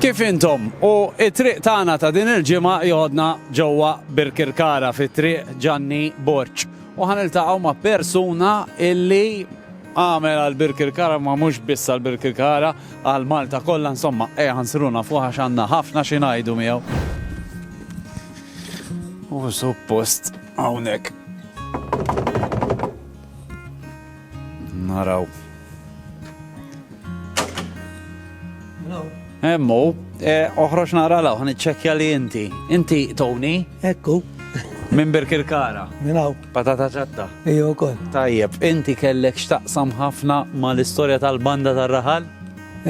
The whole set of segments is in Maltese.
Kif intom? U t-triq tagħna ta' din il-ġimgħa joħodna ġewwa Birkirkara fi Triq Ġanni Borg. U ħa niltaqgħu ma' persuna illi għamel għal Birkirkara ma mhux biss għal Birkirkara għal Malta kollha insomma ejja ħansruna fuq għax għandna ħafna xi ngħidu miegħu. U suppost hawnhekk. Naraw. Emmu, eh, oħroġ nara law, għan iċċekja li inti. Inti, Tony? Ekku. Minn Birkirkara. Minn hawn. Patata ċatta. Ejja wkoll. Tajjeb, inti kellek x'taqsam ħafna mal-istorja tal-banda tar-raħal?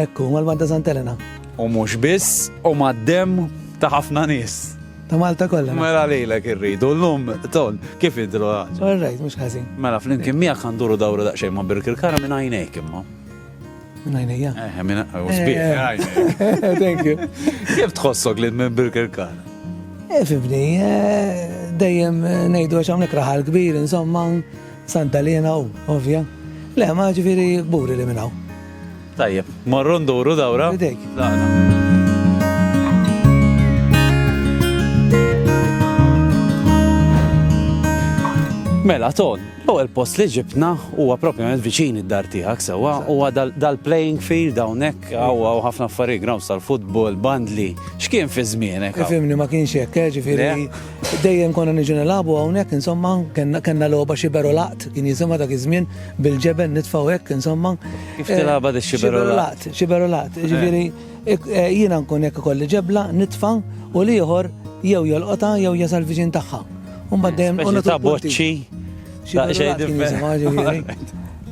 Ekku, mal-banda Santelena. U mhux biss, u mad-dem ta' ħafna nies. Ta' Malta kollha. Mela lilek irridu llum ton kif idru għaġ. All right, mhux ħażin. Mela flimkien miegħek għanduru dawru daqsxejn ma' Birkirkara minn għajnejk imma. Minn għajnejja. Eh, minn għajnejk. Eh. Thank you. Kif tħossok li minn Birkirkara? Eh, fibni, eh, dejjem ngħidu għax hawnhekk raħal kbir, insomma, Santa Lena u ovvja. Le, ma ġifieri gburi li minnaw. Tajjeb, morru nduru dawra. Bidejk. Mela, ton, u l-post li ġibna huwa propjament viċin id-dar tiegħek sewwa huwa dal-playing field hawnhekk hawn ħafna affarijiet grounds tal-futbol, bandli, x'kien fi żmienek? Fimni ma kienx hekk, eh, ġifieri Dejjem konna niġu nilagħbu hawnhekk insomma, kellna logħba xiberu laqt, kien jisimha dak iż-żmien bil-ġeben nitfgħu hekk insomma. Kif tilagħba di xiberu laqt? Xiberu laqt, jiġifieri eh, jiena nkun hekk ikolli ġebla nitfa' u l-ieħor jew jolqota jew jasal viġin tagħha. Umbad dejjem u ta' boċċi.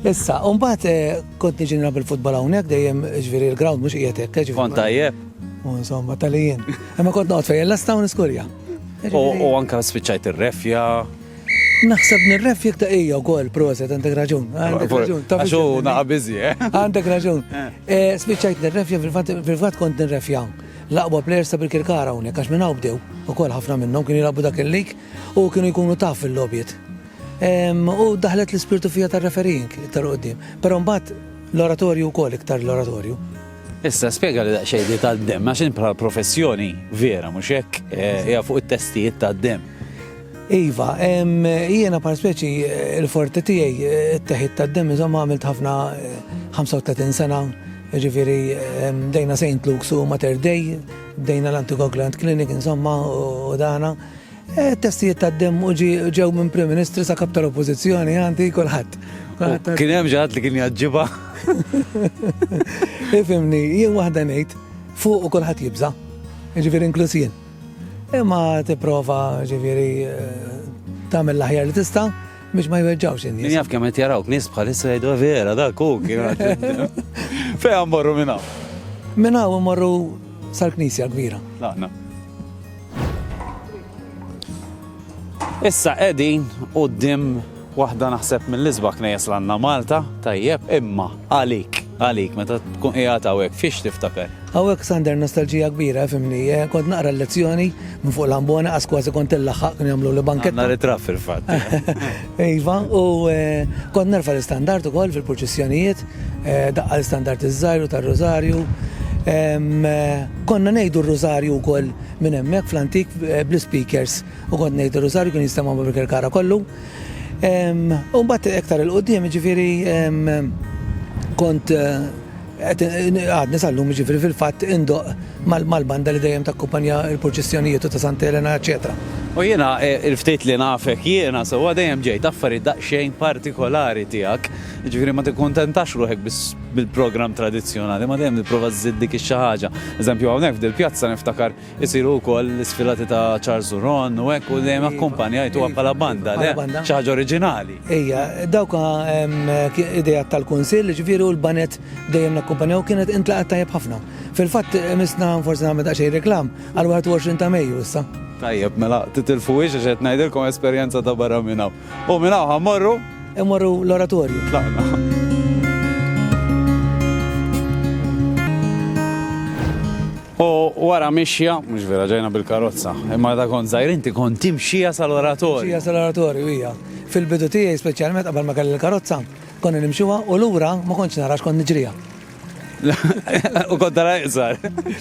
Issa, umbad eh, kont niġi nilgħab il-futbol hawnhekk dejjem ġifieri l-ground mhux qiegħed hekk. Kont tajjeb. U insomma, talijin. Imma kont noqgħod fejn l-asta u niskurja. U anka spiċċajt ir-refja. Naħseb nirref jek taqija u kol proset, għandek raġun. Għandek raġun. Għaxu naqa bizi, eh? Għandek raġun. Eh, Spiċajt nirrefja, fil-fat kont nirrefja. Laqba players ta' bil-kirkara unek, għax minna bdew. U kol ħafna minnom kienu jilabu dak il-lik u kienu jkunu taf fil-lobjiet. U daħlet l-spirtu fija tar-referink tal-qoddim. Pero mbat l-oratorju u kol iktar l-oratorju. Issa spjega li daqsxejn li tad-dem, għax int bħal professjoni vera mhux hekk eh, hija fuq it-testijiet tad-dem. Iva, jiena par speċi eh, il-forti tiegħi eh, t-teħid tad-dem iżomma għamilt ħafna 35 sena, ġifieri dejna St. Luke's u Mater Dei, dejna l-Antigogland Clinic insomma u dana. Testijiet ta' dem u ġew minn Prim Ministru sa' kap tal-Oppożizzjoni għandi kulħadd. Kien hemm ġaħat li kien jaġġiba. Ifimni, jien waħda ngħid fuq u kulħadd jibża', ġifieri inkluż jien. Imma tipprova ġifieri eh, tagħmel l-aħjar li tista' biex ma jweġġawx in-nies. Jaf kemm qed jarawk nies bħalissa jgħidu eh, vera dak hu kien Fejn morru minn hawn? Minn hawn morru sal-Knisja kbira. Laqna. Issa qegħdin quddiem waħda naħseb mill-isbaħ knejjes l-għandna Malta, tajjeb, imma għalik, għalik meta tkun qiegħed hawnhekk fiex tiftakar? Hawnhekk Sander nostalġija kbira fimni, eh, kont naqra l-lezzjoni minn fuq l-ambona qas kważi kont illaħħaq kien jagħmlu li banketta. Nhar it-trab fil-fatt. Iva, u eh, kont nerfa l-istandard ukoll fil-purċissjonijiet Daqqa l-istandard iż-żgħir u tar-Rużarju. Konna ngħidu r-Rużarju wkoll minn hemmhekk fl-antik bl-ispeakers u kont ngħid ir-Rużarju kien jinstema' ma' Birkirkara kollu. U mbagħad iktar 'il quddiem jiġifieri kont qed għadni sal-lum jiġifieri fil-fatt indoqq mal-banda li dejjem takkumpanja l-purċissjonijiet u ta' Santa Elena eċċetera. U jiena il-ftit li nafek jiena sewwa dejjem ġejt affarijiet daqsxejn partikolari tiegħek. Jiġifieri ma tikkuntentax ruħek biss bil-programm tradizzjonali, ma dejjem tipprova żżid dik ix-xi ħaġa. Eżempju hawnhekk f'dil-pjazza niftakar isiru wkoll l-isfilati ta' Charles u Ron u hekk u dejjem akkumpanjajtuha bħala banda, le? Xi ħaġa oriġinali. Ejja, dawk ideat tal-Kunsill, jiġifieri u l-baned dejjem nakkumpanjaw kienet intlaqgħet tajjeb ħafna. Fil-fatt misna forsi nagħmel daqsxejn reklam għall-21 ta' Mejju issa. Tajjeb, mela titilfuhiex għax qed ngħidilkom esperjenza ta' barra minn hawn. U minn hawn ħammorru? Immorru l-oratorju. Tlaqna. U wara mixja, mhux vera ġejna bil-karozza, imma da kont żgħir inti kont timxija sal-oratorju. Mixija sal-oratorju hija. Fil-bidu tiegħi speċjalment qabel ma kelli l-karozza, konna nimxuha u lura ma kontx narax kont niġriha. U kont dara iqsar.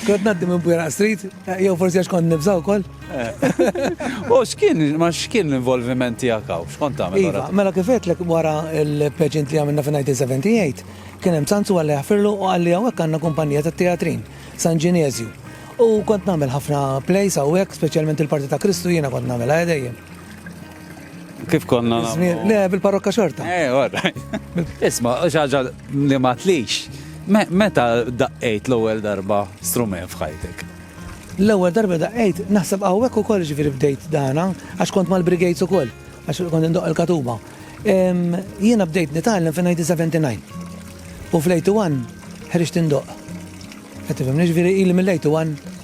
Kont naddi minn Bwera Street, jew forsi għax kont nibżaw kol. U xkien, ma xkien l-involviment tijak għaw, xkont għamil? Iva, mela kifet l wara il-pageant li għamilna fin 1978, kien hemm sanzu għalli għafirlu u għalli għawek għanna kumpanija ta' teatrin, San Ginezju. U kont namel ħafna plays għawek, specialment il-parti ta' Kristu jena kont namel għedejjem. Kif konna nagħmlu? Le, bil-parrokka xorta. Eh, għorra. Isma, xaġa li ma tlix. Meta daqqejt l-ewwel darba strument f'ħajtek? L-ewwel darba daqqejt naħseb hawnhekk ukoll ġifieri bdejt dana għax kont mal-brigades ukoll għax kont indoq il-katuba. Jiena bdejt nitgħallem fin 1979. U fl-81 ħriġt indoq. Qed tifhem, ġifieri ili mill-81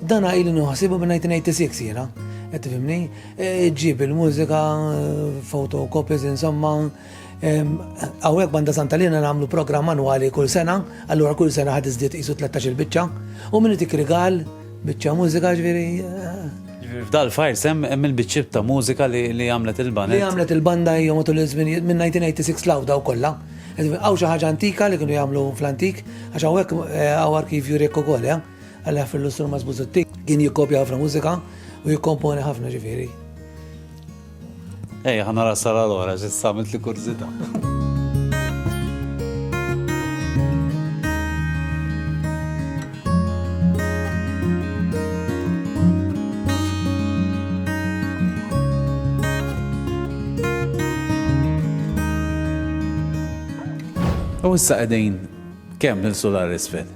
Dan ili nuħsibu minn 1986 jiena, qed tifhimni, e, ġib il-mużika, fotokopies insomma, Għawek banda santa li namlu program manuali kull sena, allura kull sena ħad iżdiet isu 13 il-bicċa, u minni tik rigal, bicċa mużika ġviri. Eh. F'dal fajr sem hemm il-biċċib ta' mużika li għamlet il-banda. Li għamlet il-banda hija matul iż-żminijiet minn 1986 law daw kollha. Għaw xi ħaġa antika li kienu jagħmlu fl-antik, għax hawnhekk eh, għaw arkivju rekku kollha. Eh. Għalli ħafna l-lustur ma' Zbuzutti kien jikkopja ħafna mużika u jikkomponi ħafna ġifiri. Ej, ħana rasar għal-ora, ġissamet li kurzita. U issa qegħdin kemm nilsu l-isfel?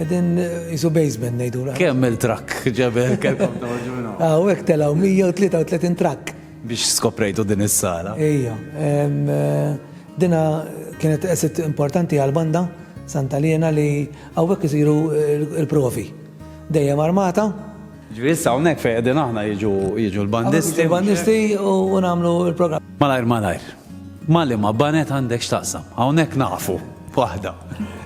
Edin jisu basement nejdu. Kemm il-trakk ġeber kelkom toħġu minnu? Aw, ek telaw 133 trakk. Biex skoprejtu din is-sala. Ija. Dina kienet esit importanti għal-banda Santa Liena li għawek jisiru il-provi. Dejjem armata. Ġviri sawnek fej edin aħna jiġu l-bandisti. Il-bandisti u namlu il-program. Malajr, malajr. Ma' liema baned għandek x'taqsam? Hawnhekk nafu waħda.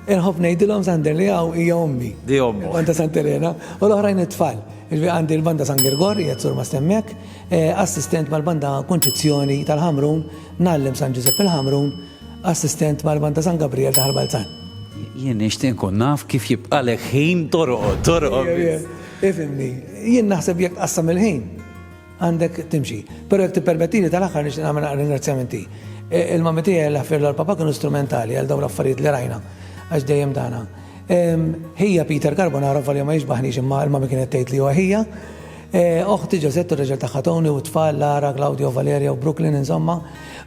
Inħobb ngħidilhom Sander li hawn hija ommi. Di ommok. Il-Banda Sant' Elena u l-oħrajn it-tfal. Jiġifieri għandi l-Banda San Girgor, qiegħed sur ma' stemmiek, assistent mal-Banda Kunċizzjoni tal-Ħamrun, ngħallem San Ġużepp il-Ħamrun, assistent mal-Banda San Gabrijel ta' Ħal Balzan. Jien nixtieq nkun naf kif jibqalek ħin torqod, torqod biss. Ifhimni, jien naħseb jekk tqassam il-ħin. Għandek timxi. Però jekk tippermettili tal-aħħar nixtieq nagħmel naqra ringrazzjamenti. Il-mammi tiegħi Alla jaħfirlha l-papà kienu strumentali għal dawn l-affarijiet li rajna għax dejjem dana. Ħija Peter Carbonaro volja ma jixbaħnix imma l-mammi kienet tgħid li huwa ħija. Oħti Ġosett u r-raġel tagħha Tony u t-tfal Lara, Claudio, Valeria u Brooklyn insomma.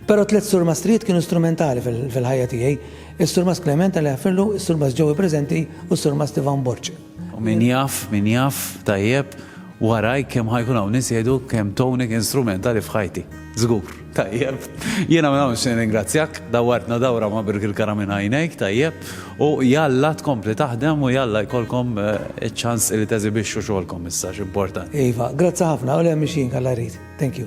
Però tliet surmastrijiet kienu strumentali fil-ħajja tiegħi. Is-surmast Clement Alla jaħfirlu, is-surmast Joey preżenti u s-surmast Ivan Borg. U min jaf, min jaf, tajjeb, waraj kemm ħa jkun hawn nies jgħidu kemm Tony kien strumentali f'ħajti. Żgur. Tajjeb. Jiena minn hawn nixtieq nirringrazzjak, dawwartna dawra ma' birk il-kara minn għajnejk, tajjeb, u jalla tkompli taħdem u jalla jkollkom iċ-ċans li teżibixxu xogħolkom issa, x'importanti. Iva, grazzi ħafna, u le mhix jien, Alla jrid. Thank you.